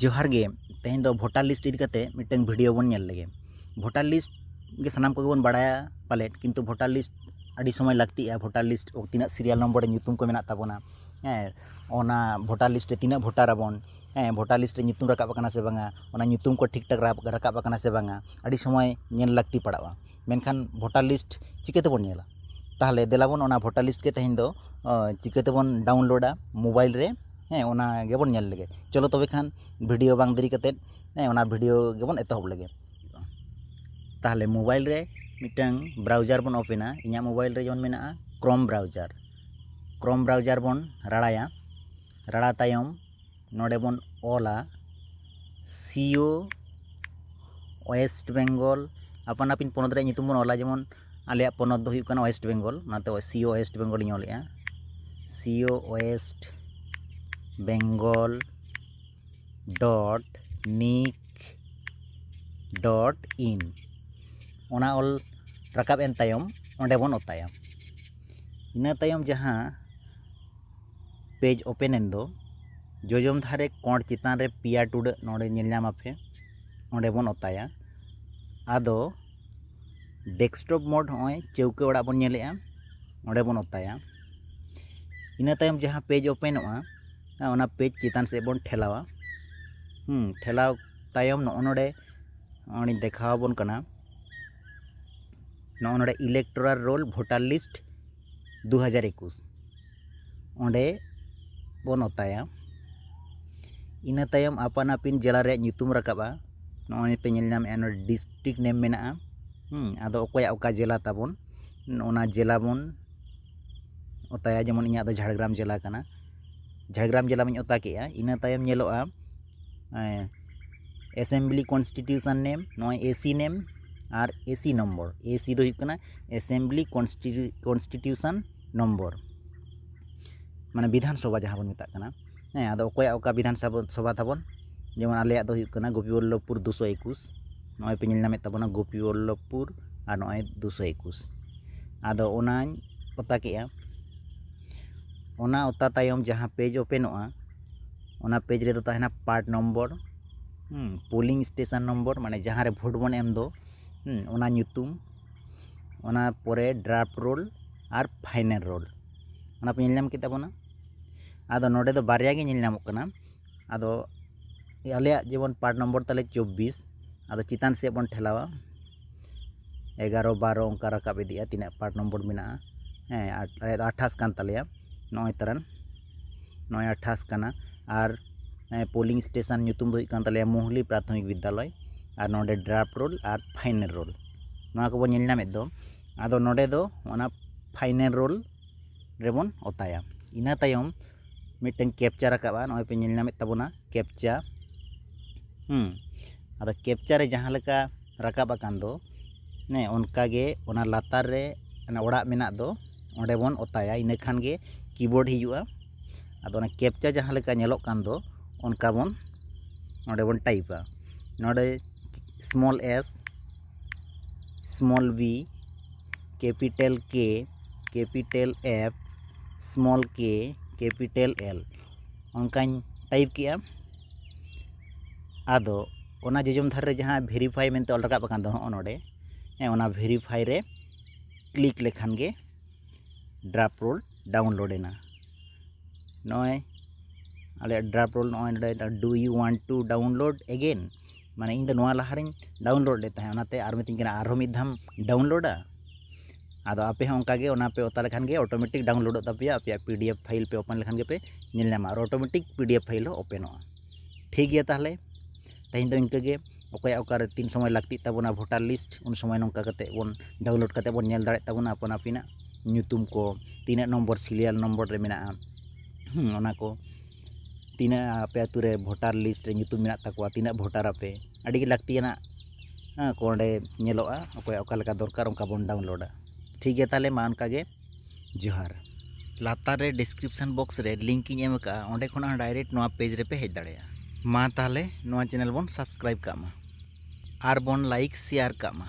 ᱡᱚᱦᱟᱨ ᱜᱮ ᱛᱮᱦᱮᱧ ᱫᱚ ᱵᱷᱳᱴᱟᱨ ᱞᱤᱥᱴ ᱤᱫᱤ ᱠᱟᱛᱮ ᱢᱤᱫᱴᱟᱝ ᱵᱷᱤᱰᱤᱭᱳ ᱵᱚᱱ ᱧᱮᱞ ᱞᱮᱜᱮ ᱵᱷᱳᱴᱟᱨ ᱞᱤᱥᱴ ᱜᱮ ᱥᱟᱱᱟᱢ ᱠᱚᱜᱮ ᱵᱚᱱ ᱵᱟᱲᱟᱭᱟ ᱯᱟᱞᱮᱫ ᱠᱤᱱᱛᱩ ᱵᱷᱳᱴᱟᱨ ᱞᱤᱥᱴ ᱟᱹᱰᱤ ᱥᱚᱢᱚᱭ ᱞᱟᱹᱠᱛᱤᱜᱼᱟ ᱵᱷᱳᱴᱟᱨ ᱞᱤᱥᱴ ᱛᱤᱱᱟᱹᱜ ᱥᱤᱨᱤᱭᱟᱞ ᱱᱚᱢᱵᱚᱨ ᱨᱮ ᱧᱩᱛᱩᱢ ᱠᱚ ᱢᱮᱱᱟᱜ ᱛᱟᱵᱚᱱᱟ ᱦᱮᱸ ᱚᱱᱟ ᱵᱷᱳᱴᱟᱨ ᱞᱤᱥᱴ ᱨᱮ ᱛᱤᱱᱟᱹᱜ ᱵᱷᱳᱴᱟᱨ ᱟᱵᱚᱱ ᱦᱮᱸ ᱵᱷᱳᱴᱟᱨ ᱞᱤᱥᱴ ᱨᱮ ᱧᱩᱛᱩᱢ ᱨᱟᱠᱟᱵ ᱟᱠᱟᱱᱟ ᱥᱮ ᱵᱟᱝᱟ ᱚᱱᱟ ᱧᱩᱛᱩᱢ ᱠᱚ ᱴᱷᱤᱠ ᱴᱷᱟᱠ ᱨᱟᱠᱟᱵ ᱟᱠᱟᱱᱟ ᱥᱮ ᱵᱟᱝᱟ ᱟᱹᱰᱤ ᱥᱚᱢᱚᱭ ᱧᱮᱞ ᱞᱟᱹᱠᱛᱤ ᱯᱟᱲᱟᱜᱼᱟ ᱢᱮᱱᱠᱷᱟᱱ ᱵᱷᱳᱴᱟᱨ ᱞᱤᱥᱴ ᱪᱤᱠᱟᱹ ᱛᱮᱵᱚᱱ ᱧᱮᱞᱟ ᱛᱟᱦᱚᱞᱮ ᱫᱮᱞᱟ ᱵᱚᱱ ᱚᱱᱟ ᱵᱷᱳᱴᱟᱨ ᱞᱤᱥᱴ ᱜᱮ ᱛᱮᱦᱮᱧ ᱫᱚ ᱪᱤᱠᱟᱹ ᱛᱮᱵᱚᱱ ᱰᱟᱣᱩᱱᱞᱳᱰᱟ ᱢᱳᱵᱟᱭᱤᱞ ᱨᱮ ᱦᱮᱸ ᱚᱱᱟ ᱜᱮᱵᱚᱱ ᱧᱮᱞ ᱞᱮᱜᱮ ᱪᱚᱞᱚ ᱛᱚᱵᱮ ᱠᱷᱟᱱ ᱵᱷᱤᱰᱤᱭᱳ ᱵᱟᱝ ᱫᱮᱨᱤ ᱠᱟᱛᱮ ᱦᱮᱸ ᱚᱱᱟ ᱵᱷᱤᱰᱤᱭᱳ ᱜᱮᱵᱚᱱ ᱮᱛᱚᱦᱚᱵ ᱞᱮᱜᱮ ᱛᱟᱦᱚᱞᱮ ᱢᱳᱵᱟᱭᱤᱞ ᱨᱮ ᱢᱤᱫᱴᱟᱝ ᱵᱨᱟᱣᱡᱟᱨ ᱵᱚᱱ ᱳᱯᱮᱱᱟ ᱤᱧᱟᱹᱜ ᱢᱳᱵᱟᱭᱤᱞ ᱨᱮ ᱡᱮᱢᱚᱱ ᱢᱮᱱᱟᱜᱼᱟ ᱠᱨᱳᱢ ᱵᱨᱟᱣᱡᱟᱨ ᱠᱨᱳᱢ ᱵᱨᱟᱣᱡᱟᱨ ᱵᱚᱱ ᱨᱟᱲᱟᱭᱟ ᱨᱟᱲᱟ ᱛᱟᱭᱚᱢ ᱱᱚᱰᱮ ᱵᱚᱱ ᱚᱞᱟ ᱥᱤᱭᱳ ᱳᱭᱮᱥᱴ ᱵᱮᱝᱜᱚᱞ ᱟᱯᱟᱱ ᱟᱹᱯᱤᱱ ᱯᱚᱱᱚᱛ ᱨᱮᱭᱟᱜ ᱧᱩᱛᱩᱢ ᱵᱚᱱ ᱚᱞᱟ ᱡᱮᱢᱚᱱ ᱟᱞᱮᱭᱟᱜ ᱯᱚᱱᱚᱛ ᱫᱚ ᱦᱩᱭᱩᱜ ᱠᱟᱱᱟ ᱳᱭᱮᱥᱴ ᱵᱮᱝᱜᱚᱞ ᱚᱱᱟᱛᱮ ᱥᱤᱭᱳ ᱳᱭᱮᱥᱴ ᱵᱮᱝᱜᱚᱞ ᱤᱧ ᱚᱞᱮᱜᱼᱟ CEO West Bengal dot NIC dot in ᱚᱱᱟ ᱚᱞ ᱨᱟᱠᱟᱵ ᱮᱱ ᱛᱟᱭᱚᱢ ᱚᱸᱰᱮ ᱵᱚᱱ ᱚᱛᱟᱭᱟ ᱤᱱᱟᱹ ᱛᱟᱭᱚᱢ ᱡᱟᱦᱟᱸ ᱯᱮᱡᱽ ᱳᱯᱮᱱ ᱮᱱ ᱫᱚ ᱡᱚᱡᱚᱢ ᱫᱷᱟᱨᱮ ᱠᱚᱬ ᱪᱮᱛᱟᱱ ᱨᱮ ᱯᱮᱭᱟ ᱴᱩᱰᱟᱹᱜ ᱱᱚᱰᱮ ᱧᱮᱞ ᱧᱟᱢ ᱟᱯᱮ ᱚᱸᱰᱮ ᱵᱚᱱ ᱚᱛᱟᱭᱟ ᱟᱫᱚ ᱰᱮᱥᱠᱴᱚᱯ ᱢᱳᱰ ᱱᱚᱜᱼᱚᱭ ᱪᱟᱹᱣᱠᱟᱹ ᱚᱲᱟᱜ ᱵᱚᱱ ᱧᱮᱞᱮᱜᱼᱟ ᱚᱸᱰᱮ ᱵᱚᱱ ᱚᱛᱟᱭᱟ ᱤᱱᱟᱹ ᱛᱟᱭᱚᱢ ᱡᱟᱦᱟᱸ ᱯᱮᱡᱽ ᱳᱯᱮᱱᱚᱜᱼᱟ ᱚᱱᱟ ᱯᱮᱡᱽ ᱪᱮᱛᱟᱱ ᱥᱮᱫ ᱵᱚᱱ ᱴᱷᱮᱞᱟᱣᱟ ᱴᱷᱮᱞᱟᱣ ᱛᱟᱭᱚᱢ ᱱᱚᱜᱼᱚ ᱱᱚᱰᱮ ᱱᱚᱜᱼᱚᱭ ᱫᱮᱠᱷᱟᱣ ᱟᱵᱚᱱ ᱠᱟᱱᱟ ᱱᱚᱜᱼᱚ ᱱᱚᱰᱮ ᱤᱞᱮᱠᱴᱳᱨᱟᱞ ᱨᱳᱞ ᱵᱷᱳᱴᱟᱨ ᱞᱤᱥᱴ ᱫᱩ ᱦᱟᱡᱟᱨ ᱮᱠᱩᱥ ᱚᱸᱰᱮ ᱵᱚᱱ ᱚᱛᱟᱭᱟ ᱤᱱᱟᱹ ᱛᱟᱭᱚᱢ ᱟᱯᱟᱱ ᱟᱹᱯᱤᱱ ᱡᱮᱞᱟ ᱨᱮᱭᱟᱜ ᱧᱩᱛᱩᱢ ᱨᱟᱠᱟᱵᱼᱟ ᱱᱚᱜᱼᱚᱭ ᱯᱮ ᱧᱮᱞ ᱧᱟᱢᱮᱫᱼᱟ ᱱᱚᱰᱮ ᱰᱤᱥᱴᱨᱤᱠ ᱱᱮᱢ ᱢᱮᱱᱟᱜᱼᱟ ᱟᱫᱚ ᱚᱠᱚᱭᱟᱜ ᱚᱠᱟ ᱡᱮᱞᱟ ᱛᱟᱵᱚᱱ ᱚᱱᱟ ᱡᱮᱞᱟ ᱵᱚᱱ ᱚᱛᱟᱭᱟ ᱡᱮᱢᱚᱱ ᱤᱧᱟᱹᱜ ᱫᱚ ᱡᱷᱟᱲᱜᱨᱟᱢ ᱡᱮᱞᱟ ᱠᱟᱱᱟ ᱡᱷᱟᱲᱜᱨᱟᱢ ᱡᱮᱞᱟ ᱢᱟᱧ ᱚᱛᱟ ᱠᱮᱫᱼᱟ ᱤᱱᱟᱹ ᱛᱟᱭᱚᱢ ᱧᱮᱞᱚᱜᱼᱟ ᱮᱥᱮᱢᱵᱞᱤ ᱠᱚᱱᱥᱴᱤᱴᱤᱭᱩᱥᱚᱱ ᱱᱮᱢ ᱱᱚᱜᱼᱚᱭ ᱮᱥᱤ ᱱᱮᱢ ᱟᱨ ᱮᱥᱤ ᱱᱚᱢᱵᱚᱨ ᱮᱥᱤ ᱫᱚ ᱦᱩᱭᱩᱜ ᱠᱟᱱᱟ ᱮᱥᱮᱢᱵᱞᱤ ᱠᱚᱱᱥᱴᱤᱴᱤᱭᱩᱥᱚᱱ ᱱᱚᱢᱵᱚᱨ ᱢᱟᱱᱮ ᱵᱤᱫᱷᱟᱱ ᱥᱚᱵᱷᱟ ᱡᱟᱦᱟᱸ ᱵᱚᱱ ᱢᱮᱛᱟᱜ ᱠᱟᱱᱟ ᱦᱮᱸ ᱟᱫᱚ ᱚᱠᱚᱭᱟᱜ ᱚᱠᱟ ᱵᱤᱫᱷᱟᱱ ᱥᱚᱵᱷᱟ ᱛᱟᱵᱚᱱ ᱡᱮᱢᱚᱱ ᱟᱞᱮᱭᱟᱜ ᱫᱚ ᱦᱩᱭᱩᱜ ᱠᱟᱱᱟ ᱜᱳᱯᱤ ᱵᱚᱞᱞᱚᱵᱷᱯᱩᱨ ᱫᱩᱥᱚ ᱮᱠᱩᱥ ᱱᱚᱜᱼᱚᱭ ᱯᱮ ᱧᱮᱞ ᱧᱟᱢᱮᱫ ᱛᱟᱵᱚᱱᱟ ᱜᱳᱯᱤ ᱵᱚᱞᱞᱚᱵᱷᱯᱩᱨ ᱟᱨ ᱱᱚᱜᱼᱚᱭ ᱫᱩᱥᱚ ᱮᱠᱩᱥ ᱟᱫᱚ ᱚᱱᱟᱧ ᱚᱛᱟ ᱠᱮᱜᱼᱟ ᱚᱱᱟ ᱚᱛᱟ ᱛᱟᱭᱚᱢ ᱡᱟᱦᱟᱸ ᱯᱮᱡᱽ ᱳᱯᱮᱱᱚᱜᱼᱟ ᱚᱱᱟ ᱯᱮᱡᱽ ᱨᱮᱫᱚ ᱛᱟᱦᱮᱱᱟ part number polling station number ᱢᱟᱱᱮ ᱡᱟᱦᱟᱸᱨᱮ ᱵᱷᱳᱴ ᱵᱚᱱ ᱮᱢ ᱫᱚ ᱚᱱᱟ ᱧᱩᱛᱩᱢ ᱚᱱᱟ ᱯᱚᱨᱮ ᱰᱨᱟᱯᱷᱴ ᱨᱳᱞ ᱟᱨ ᱯᱷᱟᱭᱱᱮᱞ ᱨᱳᱞ ᱚᱱᱟ ᱯᱮ ᱧᱮᱞ ᱧᱟᱢ ᱠᱮᱫ ᱛᱟᱵᱚᱱᱟ ᱟᱫᱚ ᱱᱚᱰᱮ ᱫᱚ ᱵᱟᱨᱭᱟ ᱜᱮ ᱧᱮᱞ ᱧᱟᱢᱚᱜ ᱠᱟᱱᱟ ᱟᱫᱚ ᱟᱞᱮᱭᱟᱜ ᱡᱮᱢᱚᱱ ᱯᱟᱨᱴ ᱱᱚᱢᱵᱚᱨ ᱛᱟᱞᱮ ᱪᱚᱵᱵᱤᱥ ᱟᱫᱚ ᱪᱮᱛᱟᱱ ᱥᱮᱫ ᱵᱚᱱ ᱴᱷᱮᱞᱟᱣᱟ ᱮᱜᱟᱨᱚ ᱵᱟᱨᱚ ᱚᱱᱠᱟ ᱨᱟᱠᱟᱵ ᱤᱫᱤᱜᱼᱟ ᱛᱤᱱᱟᱹᱜ ᱯᱟᱨᱴ ᱱᱚᱢᱵᱚᱨ ᱢᱮᱱᱟᱜᱼᱟ ᱦᱮᱸ ᱟᱞᱮᱭᱟᱜ ᱫᱚ ᱟᱴᱷᱟᱥ ᱠᱟᱱ ᱛᱟᱞᱮᱭᱟ ᱱᱚᱜᱼᱚᱭ ᱛᱟᱨᱟᱱ ᱱᱚᱭ ᱟᱴᱷᱟᱥ ᱠᱟᱱᱟ ᱟᱨ ᱯᱳᱞᱤᱝ ᱥᱴᱮᱥᱚᱱ ᱧᱩᱛᱩᱢ ᱫᱚ ᱦᱩᱭᱩᱜ ᱠᱟᱱ ᱛᱟᱞᱮᱭᱟ ᱢᱩᱦᱞᱤ ᱯᱨᱟᱛᱷᱚᱢᱤᱠ ᱵᱤᱫᱽᱫᱟᱞᱚᱭ ᱟᱨ ᱱᱚᱰᱮ ᱰᱨᱟᱯᱷᱴ ᱨᱳᱞ ᱟᱨ ᱯᱷᱟᱭᱱᱮᱞ ᱨᱳᱞ ᱱᱚᱣᱟ ᱠᱚᱵᱚᱱ ᱧᱮᱞ ᱧᱟᱢᱮᱫ ᱫᱚ ᱟᱫᱚ ᱱᱚᱰᱮ ᱫᱚ ᱚᱱᱟ ᱯᱷᱟᱭᱱᱮᱞ ᱨᱳᱞ ᱨᱮᱵᱚᱱ ᱚᱛᱟᱭᱟ ᱤᱱᱟᱹ ᱛᱟᱭᱚᱢ ᱢᱤᱫᱴᱟᱝ ᱠᱮᱯᱪᱟ ᱨᱟᱠᱟᱵᱼᱟ ᱱᱚᱜᱼᱚᱭ ᱯᱮ ᱧᱮᱞ ᱧᱟᱢᱮᱫ ᱛᱟᱵᱚᱱᱟ ᱠᱮᱯᱪᱟ ᱟᱫᱚ ᱠᱮᱯᱪᱟ ᱨᱮ ᱡᱟᱦᱟᱸ ᱞᱮᱠᱟ ᱨᱟᱠᱟᱵ ᱟᱠᱟᱱ ᱫᱚ ᱚᱱᱠᱟᱜᱮ ᱚᱱᱟ ᱞᱟᱛᱟᱨ ᱨᱮ ᱚᱱᱟ ᱚᱲᱟᱜ ᱢᱮᱱᱟᱜ ᱫᱚ ᱚᱸᱰᱮ ᱵᱚᱱ ᱚᱛᱟᱭᱟ ᱤᱱᱟᱹ ᱠᱷᱟᱱ ᱜᱮ ᱠᱤᱵᱳᱨᱰ ᱦᱤᱡᱩᱜᱼᱟ ᱟᱫᱚ ᱚᱱᱟ ᱠᱮᱯᱪᱟ ᱡᱟᱦᱟᱸ ᱞᱮᱠᱟ ᱧᱮᱞᱚᱜ ᱠᱟᱱ ᱫᱚ ᱚᱱᱠᱟ ᱵᱚᱱ ᱱᱚᱸᱰᱮ ᱵᱚᱱ ᱴᱟᱭᱤᱯᱟ ᱱᱚᱸᱰᱮ small S small B capital K capital F small K capital L ᱚᱱᱠᱟᱧ ᱴᱟᱭᱤᱯ ᱠᱮᱜᱼᱟ ᱟᱫᱚ ᱚᱱᱟ ᱡᱚᱡᱚᱢ ᱫᱷᱟᱨᱮ ᱨᱮ ᱡᱟᱦᱟᱸ ᱵᱷᱮᱨᱤᱯᱷᱟᱭ ᱢᱮᱱᱛᱮ ᱚᱞ ᱨᱟᱠᱟᱵ ᱟᱠᱟᱱ ᱫᱚ ᱦᱚᱸᱜᱼᱚ ᱱᱚᱸᱰᱮ ᱦᱮᱸ ᱚᱱᱟ ᱵᱷᱮᱨᱤᱯᱷᱟᱭ ᱨᱮ ᱠᱞᱤᱠ ᱞᱮᱠᱷᱟᱱ ᱜᱮ ᱰᱨᱟᱯ ᱨᱳᱞ ᱰᱟᱣᱩᱱᱞᱳᱰ ᱮᱱᱟ ᱱᱚᱜᱼᱚᱭ ᱟᱞᱮᱭᱟᱜ ᱰᱨᱟᱯ ᱨᱳᱞ ᱱᱚᱜᱼᱚᱭ ᱱᱚᱰᱮ do you want to download ᱮᱜᱮᱱ ᱢᱟᱱᱮ ᱤᱧ ᱫᱚ ᱱᱚᱣᱟ ᱞᱟᱦᱟ ᱨᱤᱧ ᱰᱟᱣᱩᱱᱞᱳᱰ ᱞᱮᱫ ᱛᱟᱦᱮᱸᱫ ᱚᱱᱟᱛᱮ ᱟᱨ ᱢᱤᱛᱟᱹᱧ ᱠᱟᱱᱟ ᱟᱨᱦᱚᱸ ᱢᱤᱫ ᱫᱷᱟᱣᱮᱢ ᱰᱟᱣᱩᱱᱞᱳᱰᱟ ᱟᱫᱚ ᱟᱯᱮ ᱦᱚᱸ ᱚᱱᱠᱟ ᱜᱮ ᱚᱱᱟ ᱯᱮ ᱚᱛᱟ ᱞᱮᱠᱷᱟᱱ ᱜᱮ ᱚᱴᱳᱢᱮᱴᱤᱠ ᱰᱟᱣᱩᱱᱞᱳᱰᱚᱜ ᱛᱟᱯᱮᱭᱟ ᱟᱯᱮᱭᱟᱜ ᱯᱤ ᱰᱤ ᱮᱯᱷ ᱯᱷᱟᱭᱤᱞ ᱯᱮ ᱳᱯᱮᱱ ᱞᱮᱠᱷᱟᱱ ᱜᱮᱯᱮ ᱧᱮᱞ ᱧᱟᱢᱟ ᱟᱨ automatic P D F file ᱦᱚᱸ ᱳᱯᱮᱱᱚᱜᱼᱟ ᱴᱷᱤᱠ ᱜᱮᱭᱟ ᱛᱟᱦᱚᱞᱮ ᱛᱮᱦᱮᱧ ᱫᱚ ᱤᱱᱠᱟᱹ ᱜᱮ ᱚᱠᱚᱭᱟᱜ ᱚᱠᱟᱨᱮ ᱛᱤᱱ ᱥᱚᱢᱚᱭ ᱞᱟᱹᱠᱛᱤᱜ ᱛᱟᱵᱚᱱᱟ ᱵᱷᱳᱴᱟᱨ ᱞᱤᱥᱴ ᱩᱱ ᱥᱚᱢᱚᱭ ᱱᱚᱝᱠᱟ ᱠᱟᱛᱮᱫ ᱵᱚᱱ ᱰᱟᱣᱩᱱᱞᱳᱰ ᱠᱟᱛᱮᱫ ᱵᱚᱱ ᱧᱮᱞ ᱫᱟᱲᱮᱭᱟᱜ ᱛᱟᱵᱚᱱᱟ ᱟᱯᱟᱱ ᱟᱹᱯᱤᱱᱟᱜ ᱧᱩᱛᱩᱢ ᱠᱚ ᱛᱤᱱᱟᱹᱜ ᱱᱚᱢᱵᱚᱨ ᱥᱤᱨᱤᱭᱟᱞ ᱱᱚᱢᱵᱚᱨ ᱨᱮ ᱢᱮᱱᱟᱜᱼᱟ ᱚᱱᱟ ᱠᱚ ᱛᱤᱱᱟᱹᱜ ᱟᱯᱮ ᱟᱹᱛᱩ ᱨᱮ ᱵᱷᱳᱴᱟᱨ ᱞᱤᱥᱴ ᱨᱮ ᱧᱩᱛᱩᱢ ᱢᱮᱱᱟᱜ ᱛᱟᱠᱚᱣᱟ ᱛᱤᱱᱟᱹᱜ ᱵᱷᱳᱴᱟᱨ ᱟᱯᱮ ᱟᱹᱰᱤ ᱜᱮ ᱞᱟᱹᱠᱛᱤᱭᱟᱱᱟᱜ ᱠᱚ ᱚᱸᱰᱮ ᱧᱮᱞᱚᱜᱼᱟ ᱚᱠᱚᱭᱟᱜ ᱚᱠᱟ ᱞᱮᱠᱟ ᱫᱚᱨᱠᱟᱨ ᱚᱱᱠᱟ ᱵᱚᱱ ᱰᱟᱣᱩᱱᱞᱳᱰᱟ ᱴᱷᱤᱠ ᱜᱮᱭᱟ ᱛᱟᱦᱚᱞᱮ ᱢᱟ ᱚᱱᱠᱟ ᱜᱮ ᱡᱚᱦᱟᱨ ᱞᱟᱛᱟᱨ ᱨᱮ ᱰᱤᱥᱠᱨᱤᱯᱥᱚᱱ ᱵᱚᱠᱥ ᱨᱮ ᱞᱤᱝᱠ ᱤᱧ ᱮᱢ ᱟᱠᱟᱫᱼᱟ ᱚᱸᱰᱮ ᱠᱷᱚᱱᱟᱜ ᱦᱚᱸ ᱰᱟᱭᱨᱮᱠᱴ ᱱᱚᱣᱟ ᱯᱮᱡᱽ ᱨᱮᱯᱮ ᱦᱮᱡ ᱫᱟᱲᱮᱭᱟᱜᱼᱟ ᱢᱟ ᱛᱟᱦᱚᱞᱮ ᱱᱚᱣᱟ ᱪᱮᱱᱮᱞ ᱵᱚᱱ ᱥᱟᱵᱥᱠᱨᱟᱭᱤᱵᱽ ᱠᱟᱜ ᱢᱟ ᱟᱨ ᱵᱚᱱ ᱞᱟᱭᱤᱠ ᱥᱮᱭᱟᱨ ᱠᱟᱜ ᱢᱟ